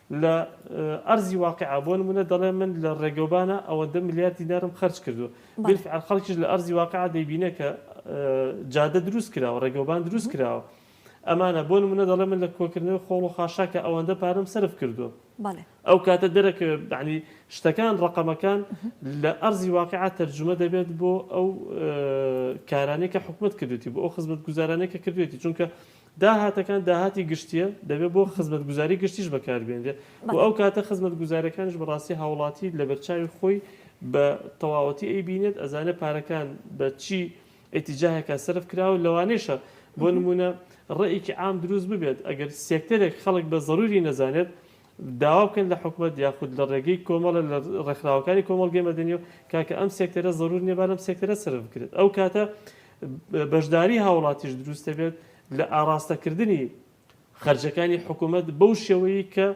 لە ئەرزی واقیعا بۆ نموونە دەڵێ من لە ڕێگەوبانە ئەوەندە ملیار دینارم خەرج کردووە، بیلفعل خەڵکیش لە ئەرزی واقیعا دەیبینێ کە جادە دروست کراوە، ڕێگەوبان دروست کراوە. ئەمانە بۆ نموونە دەڵێ من لە کۆکردنەوەی خۆڵ و خاشاکا ئەوەندە پارەم سەرف کردووە. ئەو کاتە دەرەکەوێ یەعنی شتەکان، ڕەقەمەکان لە ئەرزی واقیعا تەرجومە دەبێت بۆ ئەو کارانەی کە حکومەت کردوویەتی، بۆ ئەو خزمەتگوزارانەی کە کردوویەتی، چونکە داهاتەکان داهاتی گشتییە، دەبێت بۆ خزمەتگوزاری گشتیش بەکاربێنرێت و ئەو کاتە خزمەتگوزارەکانیش بەڕاستی هاوڵاتی لەبەرچاوی خۆی بە تەواوەتی ئەیبینێت، ئەزانێت پارەکان بە چی ئیتیجاهێکا سەرف کراوە، لەوانەیشە بۆ نموونە ڕێیەکی عام دروست ببێت، ئەگەر سێکتەرێک خەڵک بە زەرووری نەزانێت، داوا بکەن لە حکومەت یاخود لە ڕێگەی کۆمەڵە لە ڕێکخراوەکانی کۆمەڵگەی مەدەنی و کاکە ئەم سێکتەرە زەرور نیە با لەم سێکتەرە سەرف بکرێت ئەو کاتە بەشداری هاوڵاتیش دروست دەبێت لە ئاڕاستە کردنی خەرجەکانی حکومەت بەو شێوەیی کە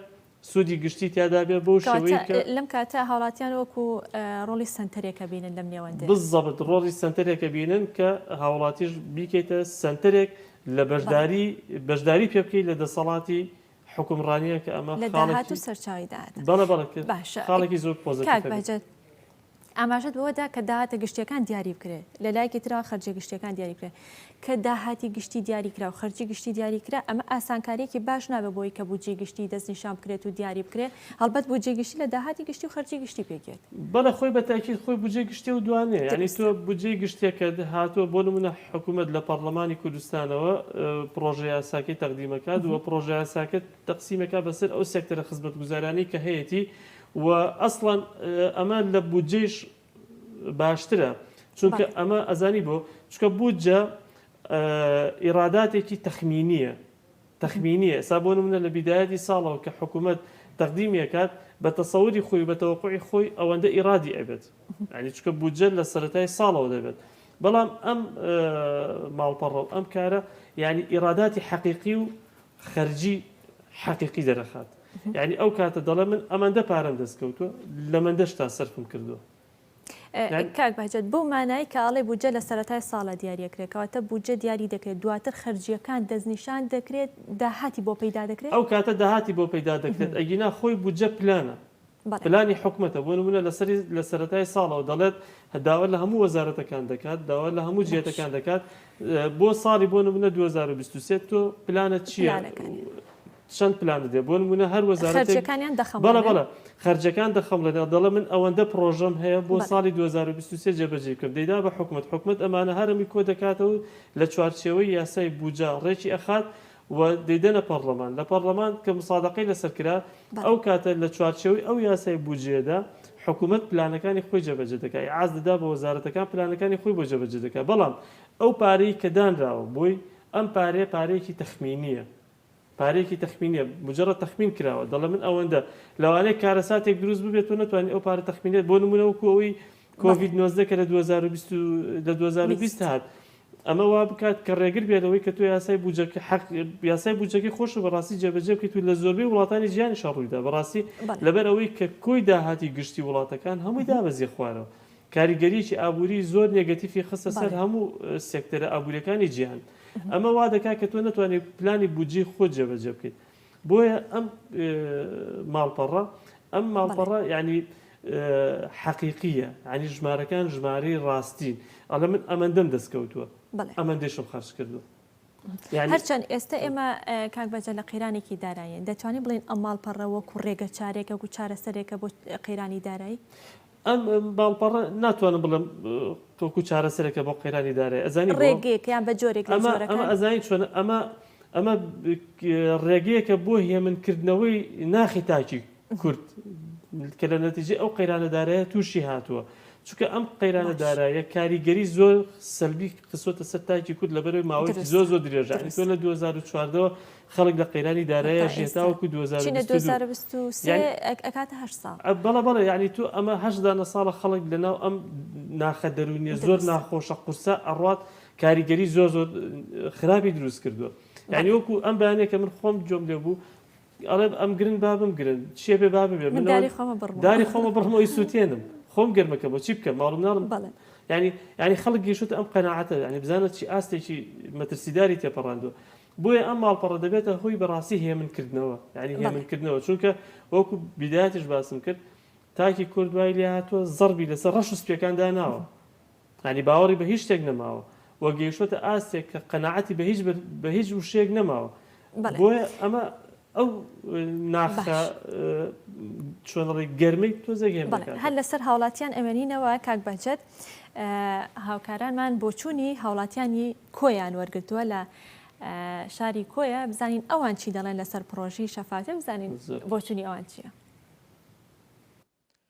سودی گشتی تیادا بێ بەو شێوەیی کە لەم کاتە هاوڵاتیان وەکو ڕۆڵی سەنتەرێکە بینن لەم نێوەندە بزەبت ڕۆڵی سەنتەرێکە بینن کە هاوڵاتیش بیکەیتە سەنتەرێک لە بەشداری بەشداری پێ بکەیت لە دەسەڵاتی حوکمڕانیە کە ئەمە لە داهات و سەرچاوی داهاتە. بەڵێ بەڵێ کرد. باشە. خاڵێکی زۆر پۆزەتیڤ کاک هەبێت. بەهجەت ئاماژەت بەوە دا کە داهاتە گشتییەکان دیاری بکرێ، لە لایەکی ترەوە خەرجیە گشتییەکان دیاری بکرێ. کە داهاتی گشتی دیاری کرا و خەرجی گشتی دیاری کرا، ئەمە ئاسانکارییەکی باش نابێ بۆ ئەوەی کە بودجەی گشتی دەستنیشان بکرێت و دیاری بکرێ، هەڵبەت بودجەی گشتی لە داهاتی گشتی و خەرجی گشتی پێکدێت. بەڵێ خۆی بە تاکید خۆی بودجەی گشتیە و دوانیە یانی تۆ بودجەی گشتیەکەت هاتوە بۆ نمونە حکومەت لە پەڕڵەمانی کوردستانەوە پڕۆژە یاساکەی تەقدیم ئەکات و پڕۆژە یاساکە تەقسیم ئەکات بەسەر ئەو سێکتەرە خزمەتگوزارانەی کە هەیەتی و ئەسڵەن ئەمە لە بودجەیش باشترە چونکە ئەمە ئەزانی بۆ چونکە بودجە ئیڕاداتێکی تەخمینیە تەخمینیە ئێستا بۆ نمونە لە بیدایەتی ساڵەوە کە حکومەت تەقدیمی ئەکات بە تەسەوری خۆی و بە تەوەقوعی خۆی ئەوەندە ئیرادی ئەبێت یانی چونکە بودجە لە سەرەتای ساڵەوە دەبێت بەڵام ئەم ماڵپەڕە و ئەم کارە یانی ئیراداتی حەقیقی و خەرجی حەقیقی دەرەخات یانی ئەو کاتە دەڵێ من ئەمەندە پارەم دەست کەوتووە لەمەندەشتا سەرفم کردووە کاک بەهجەت بەو مانایەی کە ئەڵێی بودجە لە سەرەتای ساڵە دیاری ئەکرێت کەواتە بودجە دیاری دەکرێت دواتر خەرجییەکان دەستنیشان دەکرێت داهاتی بۆ پەیدا دەکرێت؟ ئەو کاتە داهاتی بۆ پەیدا دەکرێت ئەگینا خۆی بودجە پلانە پلانی حکومەتە بۆ نمونە لەسەری لە سەرەتای ساڵەوە دەڵێت داوا لە هەموو وەزارەتەکان دەکات داوا لە هەموو جیاتەکان دەکات بۆ ساڵی بۆ نمونە دوو هەزار و بیست و سێ تۆ پلانت چییە؟ چەند پلان دەدەێت بۆ نمونە هەر وەزارەتێک بەڵە بەڵە خەرجەکان دەخەمڵێنەوە دەڵێ من ئەوەندە پرۆژەم هەیە بۆ ساڵی 2023 جێبەجێ کرد دەیدا بە حکومت حکومت ئەمانە هەرمی کۆ دەکاتەوە لە چوارچێوەی یاسای بوجا ڕێکی ئەخات و دەیدەنە پەرلەمان لە پەرلەمان کە مسادقەی لەسەر کرا ئەو کاتە لە چوارچێوەی ئەو یاسای بجێدا حکوومەت پلانەکانی خۆی جەبەجە دەکای ئاز دەدا بە وەزارەتەکان پلانەکانی خۆی بۆ جەبەجە دەکات بەڵام ئەو پارەی کە دانراوە بۆی ئەم پارێ پارێکی تەخمینیە پارەیەکی تەخمینیە مجرد تەخمین کراوە دەڵێ من ئەوەندە لەوانەیە کارەساتێک دروست ببێت تۆ نەتوانی ئەو پارە تەخمینێت بۆ نمونە وەکو ئەوی کۆڤید 19 کە لە 2020 لە 2020 هات ئەمە وا بکات کە ڕێگر بێت لەوەی کە تۆ یاسای بوجەکە حق یاسای بوجەکەی خۆش و بەڕاستی جێبەجێ بکەیت و لە زۆربەی وڵاتانی جیانی شەڕوویدا بەڕاستی بەڵێ لەبەر ئەوەی کە کۆی داهاتی گشتی وڵاتەکان هەمووی دابەزیە خوارەوە کاریگەرییەکی ئابووری زۆر نێگەتیفی خستە سەر هەموو سێکتەرە ئابوورییەکانی جیهان. ئەمە وا دەکات کە تۆ نەتوانیت پلانی بودجەی خۆت جێبەجێ بکەیت. بۆیە ئەم ماڵپەڕە، ئەم ماڵپەڕە یانی حەقیقییە، یانی ژمارەکان ژمارەی ڕاستین. ئەڵێ من ئەمەندەم دەستکەوتووە، ئەمەندەیشم خەرج کردووە. هەرچەند ئێستە ئێمە کاک بەجە لە قەیرانێکی دارایین دەتوانین بڵین ئەم ماڵپەڕە وەکو ڕێگە چارێکە و چارەسەرێکە بۆ قەیرانی دارایی ئەم باڵپەڕە ناتوانم بڵم تۆکو چارەسەرێکە بۆ قەیرانی دارێ ئەزانی ڕێگەیەکیان بە جۆرێک ئەمە ئەزانین چۆن ئەمە ئەمە ڕێگەیەکە بۆ هێمنکردنەوەی ناخی تاکی کورد کە لە نەتیجەی ئەو قەیرانە دارایە تووشی هاتووە چونکە ئەم قەیرانە دارایە کاریگەری زۆر سەلبی خسۆتە سەر تاکی کورد لە بەرەوەی ماوەی زۆر زۆر درێژە تۆ لە 2014ەوە خەڵک لە قەیرانی دارایە ژێتاوەکو 2020 بەڵە بەڵێ یعنی تو ئەمە هەشدانە ساڵە خەڵک لە ناو ئەم ناخە دەرونیە زۆر ناخۆشە قورسە ئەڕات کاریگەری زۆر زۆر خراپی دروست کردووە یعنی وەکو ئەم بەیانێکە من خۆم جۆم لێ بوو ئەڵێم ئەم گرن با بمگرن چیە بێ با ببێ من داری خۆمە بڕمەوە داری خۆمە بڕمەوە ئیسوتێنم خۆم گەرم ئەکەم بۆ چی بکەم ماڵ و مناڵم بەڵێ یعنی یعنی خەڵک گەیشتوتە ئەم قەناعەتە یعنی بزانە چی ئاستێکی مەترسیداری تێپەڕاندووە بۆیە ئەم ماڵپەڕە دەبێتە هۆی بەڕاستی هێمنکردنەوە یعنی بەڵێ هێمنکردنەوە چونکە وەکو بیدایەتیش باسم کرد تاکی کورد وای لێهاتووە زەڕبی لەسەر ڕەش و سپیەکان داناوە یانی باوەڕی بە هیچ شتێک نەماوە و گەیشتۆتە ئاستێک کە قەناعەتی بە هیچ بە هیچ وشەیەک نەماوە بۆیە ئەمە ئەو ناخە چۆنڕی گەرمەی تۆزێک هەر لەسەر هاوڵاتیان ئەوێنینەوە کاک بەجێت هاوکارانمان بۆچوونی هاوڵاتیانی کۆیان وەرگتووە لە شاری کۆیە بزانین ئەوان چی دەڵێن لەسەر پرۆژی شەفاتە بزانین بۆچوونی ئەوان چییە؟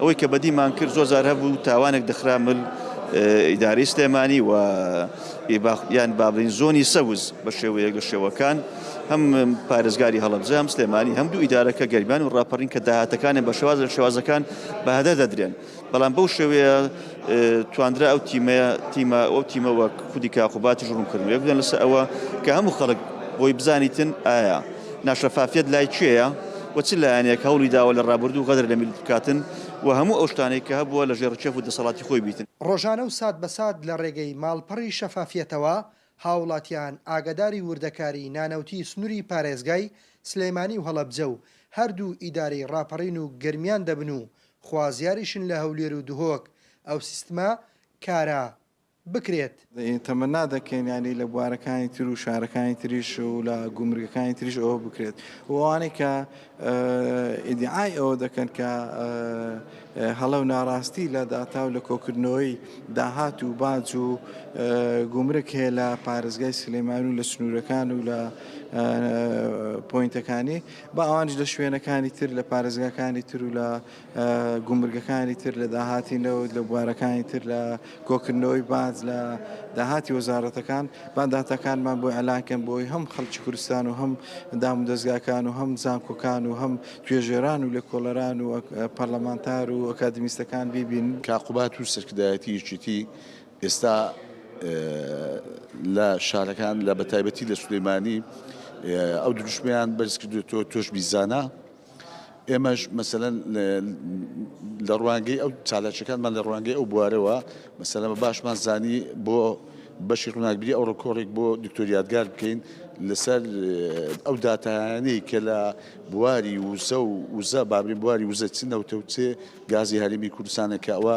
ئەوەی کە بەدیمان کرد زۆر جار هەبوو تاوانێک دەخرا مل ئیدارەی سلێمانی و یان بابلین زۆنی سەوز بە شێوەیەک لە شێوەکان هەم پارێزگاری هەڵەبجە هەم سلێمانی هەم دوو ئیدارەکە گەرمیان و ڕاپەڕین کە داهاتەکانیان بە شێواز لە شێوازەکان بەهەدەر دەدرێن بەڵام بەو شێوەیە تواندرا ئەو تیمەیە تیمە ئەو تیمە وەک خودی کاقوباتیش ڕوونکردن وێ بدەن لەسەر ئەوە کە هەموو خەڵک بۆی بزانیتن ئایا ناشەفافیت لای کوێیە و چ لایەنێک هەوڵی داوە لە ڕابردوو غەدر لە میللەت بکاتن و هەموو ئەو شتانەی کە هەبووە لە ژێر ڕکێف و دەسەڵاتی خۆی بیتن. ڕۆژانە و سات بە سات لە ڕێگەی ماڵپەڕی شەفافیەتەوە هاوڵاتیان ئاگاداری وردەکاری نانەوتی سنوری پارێزگای سلێمانی و هەڵەبجە و هەردوو ئیدارەی ڕاپەڕین و گەرمیان دەبن و خوازیاریشن لە هەولێر و دهۆک ئەو سیستمە کارا بکرێت. تەمەنا دەکەین یانی لە بوارەکانی تر و شارەکانی تریش و لە گومرگەکانی تریش ئەوە بکرێت و ئەوانەی کە ئیدعای ئەوە دەکەن کە هەڵە و ناڕاستی لە داتا و لە کۆکردنەوەی داهات و باج و گومرک هەیە لە پارێزگای سلێمانی و لە سنوورەکان و لە پۆینتەکانی با ئەوانیش لە شوێنەکانی تر، لە پارێزگاکانی تر و لە گومرگەکانی تر، لە داهاتی نەوت، لە بوارەکانی تر، لە کۆکردنەوەی باج لە داهاتی وەزارەتەکان، با داتاکانمان بۆ ئیعلان کەن بۆ ئەوەی هەم خەڵکی کوردستان و هەم دامودەزگاکان و هەم زانکۆکان و هەم توێژەران و لێکۆڵەران و پەرلەمانتار و ئەکادیمیستەکان بیبینن. کا قوباد و سەرکردایەتی یەکێتی ئێستا لە شارەکان لە بەتایبەتی لە سلێمانی ئەو دروشمیان بەرز کردوێتەوە تۆش بیزانە ئێمەش مەسەەن لە ڕوانگەی ئەو چالاچەکانمان لە ڕوانگەی ئەو بوارەوە مەسەلەمە باشمان زانی بۆ بەشی ڕووناکبیری ئەو ڕکۆڕێک بۆ دکتۆریادگار بکەین لەسەر ئەو دااتانەی کە لە بواری وزە و وزە بابرین بواری وزە چ نەوتەوتێ گازی هەرمی کوردستانە کە ئەوە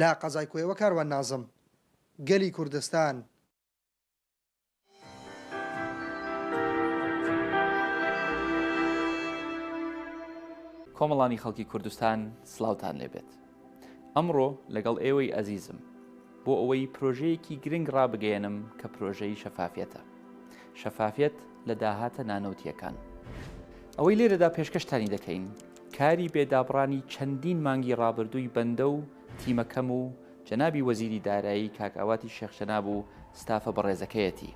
لە قەزای کۆیە و کاروان نازم، گەلی کوردستان. کۆمەڵانی خەڵکی کوردستان سڵاوتان لێ بێت. ئەمڕۆ لەگەڵ ئێوەی ئەزیزم، بۆ ئەوەی پرۆژەیەکی گرنگ ڕابگەیەنم کە پرۆژەی شەفافیەتە. شەفافیەت لە داهاتە نانەوتییەکان. ئەوەی لێرەدا پێشکەشتانی دەکەین، کاری بێ دابڕانی چەندین مانگی ڕابردووی بەندە و تیمەکەم و جەنابی وەزیری دارایی کاک ئاواتی شێخ جەناب و ستافە بەڕێزەکەیەتی.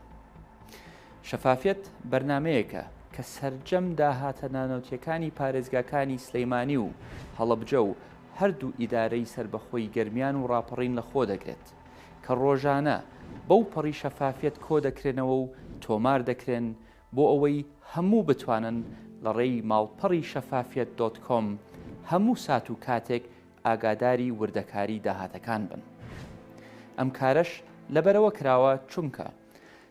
شەفافیەت بەرنامەیەکە کە سەرجەم داهاتە نانەوتیەکانی پارێزگاکانی سلەیمانی و هەڵەبجە و هەردوو ئیدارەی سەربەخۆی گەرمیان و ڕاپەڕین لەخۆ دەگرێت کە ڕۆژانە بەوپەڕی شەفافیەت کۆدەکرێنەوە و تۆمار دەکرێن بۆ ئەوەی هەموو بتوانن لە ڕێی ماڵپەڕی شەفافیەت دۆت کۆم هەموو سات و کاتێک ئاگاداری وردەکاری داهاتەکان بن. ئەم کارەش لەبەرەوە کراوە چونکە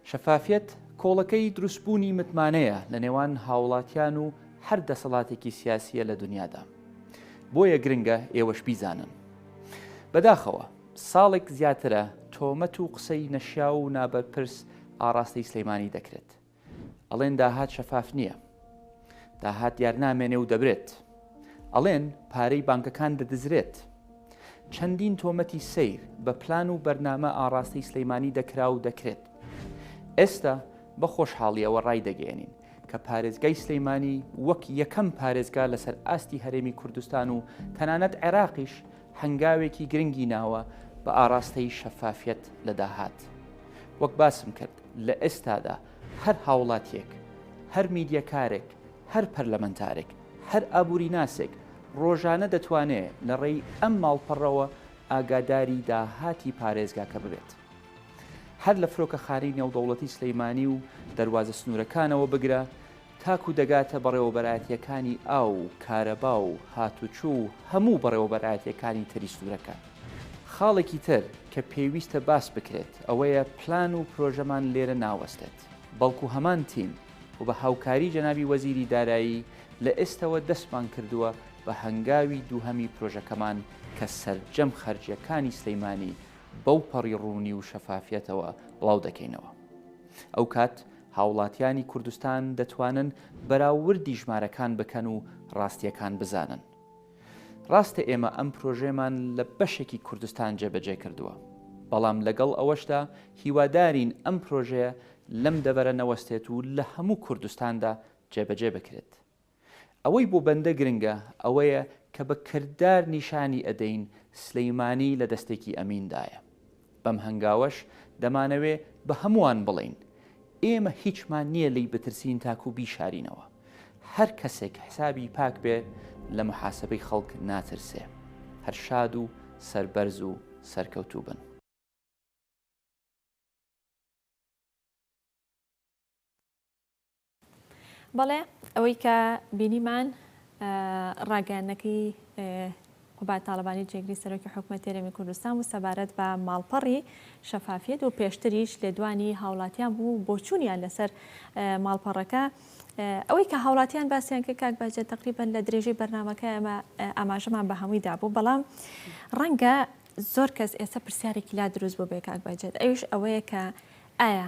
شەفافیەت کۆڵەکەی دروستبوونی متمانەیە لە نێوان هاوڵاتیان و هەر دەسەڵاتێکی سیاسیە لە دنیادا. بۆیە گرنگە ئێوەش بیزانن. بەداخەوە. ساڵێک زیاترە تۆمەت و قسەی نەشیاو و نابەرپرس ئاڕاستەی سلێمانی دەکرێت. ئەڵێن داهات شەفاف نییە. داهات دیار نامێنێ و دەبرێت. ئەڵێن پارەی بانکەکان دەدزرێت. چەندین تۆمەتی سەیر بە پلان و بەرنامە ئاڕاستەی سلێمانی دەکرا و دەکرێت. ئێستا بە خۆشحاڵییەوە ڕایدەگەیەنین کە پارێزگای سلێمانی وەک یەکەم پارێزگا لەسەر ئاستی هەرێمی کوردستان و تەنانەت عێراقیش هەنگاوێکی گرنگی ناوە بە ئاڕاستەی شەفافیەت لە داهات. وەک باسم کرد لە ئێستادا هەر هاوڵاتیەک، هەر میدیەکارێک، هەر پەرلەمەنتارێک، هەر ئابوریناسێک ڕۆژانە دەتوانێ لە ڕێی ئەم ماڵپەڕەوە ئاگاداری داهاتی پارێزگاکە ببێت. هەر لە فرۆکەخانەی نێودەوڵەتی سلێمانی و دەروازە سنوورەکانەوە بگرە تاکوو دەگاتە بەڕێوەبەرایەتییەکانی ئاو و کارەبا و هاتوچۆ و هەموو بەڕێوەبەرایەتییەکانی تری سنوورەکە. خاڵێکی تر کە پێویستە باس بکرێت ئەوەیە پلان و پرۆژەمان لێرە ناوەستێت بەڵکوو هەمان تیم و بە هاوکاری جەنابی وەزیری دارایی لە ئێستەوە دەستمان کردووە بە هەنگاوی دووهەمی پرۆژەکەمان کە سەرجەم خەرجییەکانی سلێمانی بەو پەڕی ڕوونی و شەفافیەتەوە بڵاو دەکەینەوە. ئەو کات هاوڵاتیانی کوردستان دەتوانن بەراووردی ژمارەکان بکەن و ڕاستیەکان بزانن. ڕاستە ئێمە ئەم پرۆژەیەمان لە بەشێکی کوردستان جێبەجێ کردووە. بەڵام لەگەڵ ئەوەشدا هیوادارین ئەم پرۆژەیە لەم دەڤەرە نەوەستێت و لە هەموو کوردستاندا جێبەجێ بکرێت. ئەوەی بۆ بەندە گرنگە ئەوەیە کە بە کردار نیشانی ئەدەین سلیمانی لە دەستێکی ئەمین دایە. بەم هەنگاوەش دەمانەوێ بە هەمووان بڵێین، ئێمە هیچمان نییە لێی بترسین تاکو بیشارینەوە. هەر کەسێک حسابی پاک بێ لە محاسبەی خەڵک ناترسێ. هەر شاد و سەربەرز و سەرکەوتوو بن. بەڵێ ئەوەی کە بینیمان ڕاگەیانەکەی قوبات تاالبانی جێگری سەرۆکی حکومەت تێرەمی کوردستان و سەبارەت بە ماڵپەڕی شەفافیت و پێشتریش لێدوانی هاوڵاتیان بوو بۆچوونیان لەسەر ماڵپەڕەکە ئەوەی کە هاوڵاتیان باسییان کە کاک باجە تقریبان لە درێژەی بەرنمەکە ئەمە ئاماژەمان بە هەمووی دابوو بەڵام ڕەنگە زۆر کەس ئێستا پرسیارێکی لا دروست بۆ بێ کاک باجێت ئەوش ئەوەیە کە ئایا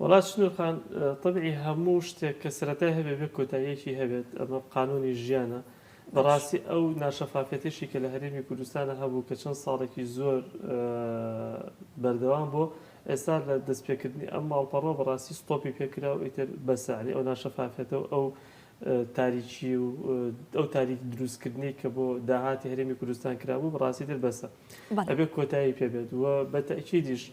وەڵا سنور خان تەبعی هەموو شتێک کە سەرەتای هەبێ بێ کۆتاییەکی هەبێت ئەمە قانونی ژیانە بەڕاستی ئەو ناشەفافیەتەشی کە لە هەرێمی کوردستانا هەبوو کە چەند ساڵێکی زۆر بەردەوام بوو ئێستا لە دەستپێکردنی ئەم ماڵپەڕە بەڕاستی ستۆپی پێکرا و ئیتر بەسە یعنی ئەو ناشەفافیەتە و ئەو تاریکی و ئەو تاریک دروستکردنی کە بۆ داهاتی هەرێمی کوردستان کرابوو بەڕاستی تر بەسە ئەبێ کۆتایی پێبێت و بە تەکیدیش. بە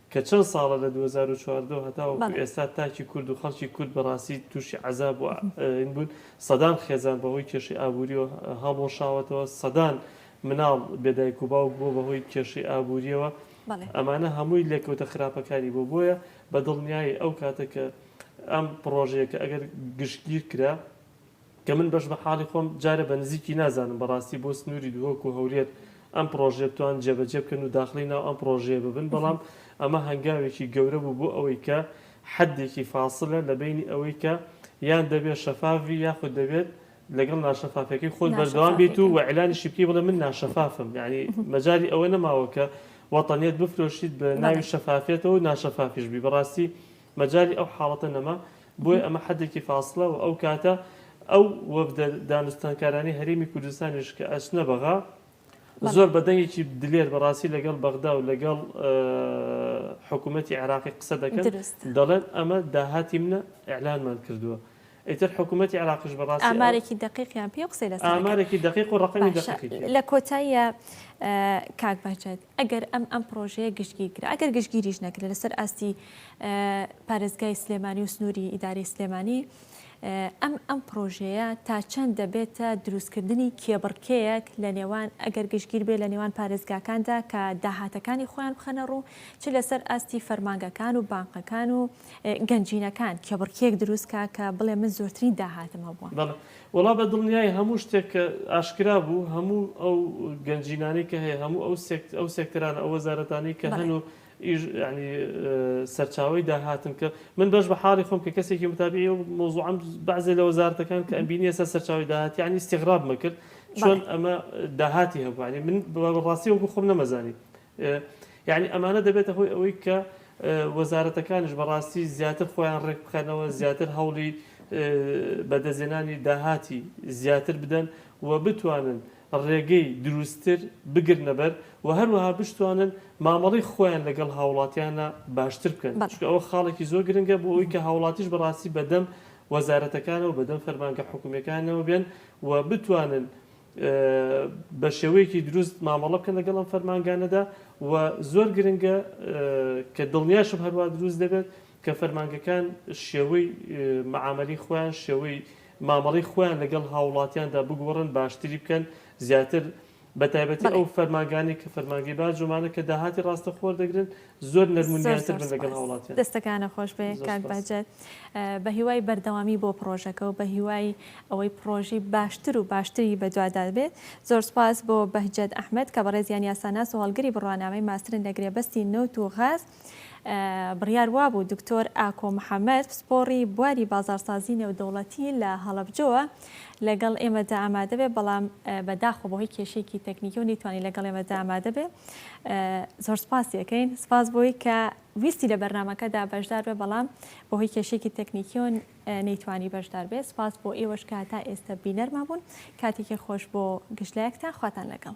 کە چەند ساڵە لە دوو هەزار و چواردە و هەتاوەکو ئێستا تاکی کورد و خەڵکی کورد بە ڕاستی تووشی عەزاب و ئاین بوون، سەدان خێزان بە هۆی کێشەی ئابوورییەوە هەڵوەشاوەتەوە، سەدان مناڵ بێ دایک و باوک بووە بە هۆی کێشەی ئابوورییەوە، ئەمانە هەمووی لێکەوتە خراپەکانی بووە، بۆیە بە دڵنیایی ئەو کاتە کە ئەم پڕۆژەیە کە ئەگەر گشتگیر کرا، کە من بەش بە حاڵی خۆم جارێ بە نزیکی نازانم بەڕاستی بۆ سنوری دهۆک و هەولێر ئەم پڕۆژەیە بتوان جێ بەجێ بکەن و داخڵی ناو ئەم پڕۆژەیە ببن بەڵام ئەمە هەنگاوێکی گەورە بوو بۆ ئەوەی کە حەدێکی فاسلە لە بەینی ئەوەی کە یان دەبێت شەفاف بی یاخود دەبێت لەگەڵ ناشەفافیەکەی خۆت بەردەوام بیت و وئیلانیشی بکەی بڵێ من ناشەفافم یعنی مەجالی ئەوە نەماوە کە وەتەنیت بفرۆشیت بە ناوی شەفافیەتەوە ناشەفافیش بی بەڕاستی مەجالی ئەو حاڵەتە نەما، بۆیە ئەمە حەدێکی فاسڵە و ئەو کاتە ئەو وەفدە دانوستانکارانەی هەرێمی کوردستانیش کە ئەچنە بەغا، زۆر بە دەنگێکی دلێر بە ڕاستی لەگەڵ بەغدا و لەگەڵ حکوومەتی عێراقی قسە دەکەن، دەڵێن ئەمە داهاتی منە، ئیعلانمان کردووە. ئیتر حکومەتی عێراقیش بە ڕاستی ئەو. ئامارێکی دەقیقیان پێ و قسەی لەسەر ئەکەن. ئامارێکی دەقیق و ڕەقەمی باشە دەقیقی پێ. لە کۆتاییا کاک بەهجەت ئەگەر ئەم ئەم پڕۆژەیە گشتگیر کرا، ئەگەر گشتگیریش نەکرێ لەسەر ئاستی پارێزگای سلێمانی و سنووری ئیدارەی سلێمانی ئەم ئەم پڕۆژەیە تا چەند دەبێتە دروستکردنی کێبڕکێیەک لە نێوان ئەگەر گشتگیر بێ لە نێوان پارێزگاکاندا کە داهاتەکانی خۆیان بخەنە ڕوو چ لەسەر ئاستی فەرمانگەکان و بانقەکان و گەنجینەکان کێبڕکێیەک دروست کا کە بڵێ من زۆرترین داهاتم هەبووە. بەڵێ وەڵا بە دڵنیایی هەموو شتێک کە ئاشکرا بوو هەموو ئەو گەنجینانەی کە هەیە هەموو ئەو سێکت ئەو سێکتەرانە ئەو وەزارەتانەی کە هەن و بەڵێ. ئیژ یانی سەرچاوەی داهاتن کە من بەش بە حاڵی خۆم کە کەسێکی متابعی ئەو مەوزوعەم بەعزێ لە وەزارەتەکان کە ئەمبینی ئێستا سەرچاوەی داهات یانی ئیستیغرابمە کرد چۆن بەڵێ. ئەمە داهاتی هەبوو یانی من بە ڕاستی وەکوو خۆم نەمەزانی یەعنی ئەمانە دەبێتە هۆی ئەوەی کە وەزارەتەکانیش بە ڕاستی زیاتر خۆیان ڕێک بخەنەوە، زیاتر هەوڵی بە دەستێنانی داهاتی زیاتر بدەن و بتوانن ڕێگەی دروستتر بگرنە بەر و هەروەها بشتوانن مامەڵەی خۆیان لەگەڵ هاوڵاتیانا باشتر بکەن، چونکە ئەوە خاڵێکی زۆر گرنگە بۆ ئەوەی کە هاوڵاتیش بە ڕاستی بەدەم وەزارەتەکانەوە بەدەم فەرمانگە حکومیەکانەوە بێن و بتوانن بە شێوەیەکی دروست مامەڵە بکەن لەگەڵ ئەم فەرمانگانەدا و زۆر گرنگە کە دڵنیاشم هەروا دروست دەبێت کە فەرمانگەکان شێوەی معاملی خۆیان شێوەی مامەڵی خۆیان لەگەڵ هاوڵاتیاندا بگۆڕن باشتری بکەن زیاتر بە تایبەتی ئەو فەرمانگانی کە فەرمانگەی باجومانە کە داهاتی ڕاستەخۆر دەگرن زۆر نەرم و نیانتر بن لەگەڵ هاوڵاتیان. دەستەکانت خۆش بێ کاک بەهجەت بە هیوای بەردەوامی بۆ پڕۆژەکە و بە هیوای ئەوەی پڕۆژی باشتر و باشتری بەدوادا بێت زۆر سوپاس بۆ بەهجەت ئەحمەد کە بەڕێزیان یاساناس و هەڵگری بڕوانامەی ماسترن لە گرێبەستی نەوت و غاز بڕیار وابوو دکتۆر ئاکۆ محەمەد پسپۆڕی بواری بازاڕسازی نێودەوڵەتی لە هەڵەبجەوە لەگەڵ ئێمەدا ئامادە بێ بەڵام بە داخۆ بۆ هی کێشێکی تەکنیکی و نیتوانی لەگەڵ ئێمەدا ئامادە بێ زۆر سپاس یەکەین سپاس بۆی کە ویستی لە بەرنمەکەدا بەشدار بێ بەڵام بۆ هی کێشێکی تەکنیکی و نەیتوانی بەشدار بێ سپاس بۆ ئێوەش کە تا ئێستا بینەرما بوون کاتێکی خۆش بۆ گشتلایەکتان خواتان لەگەڵ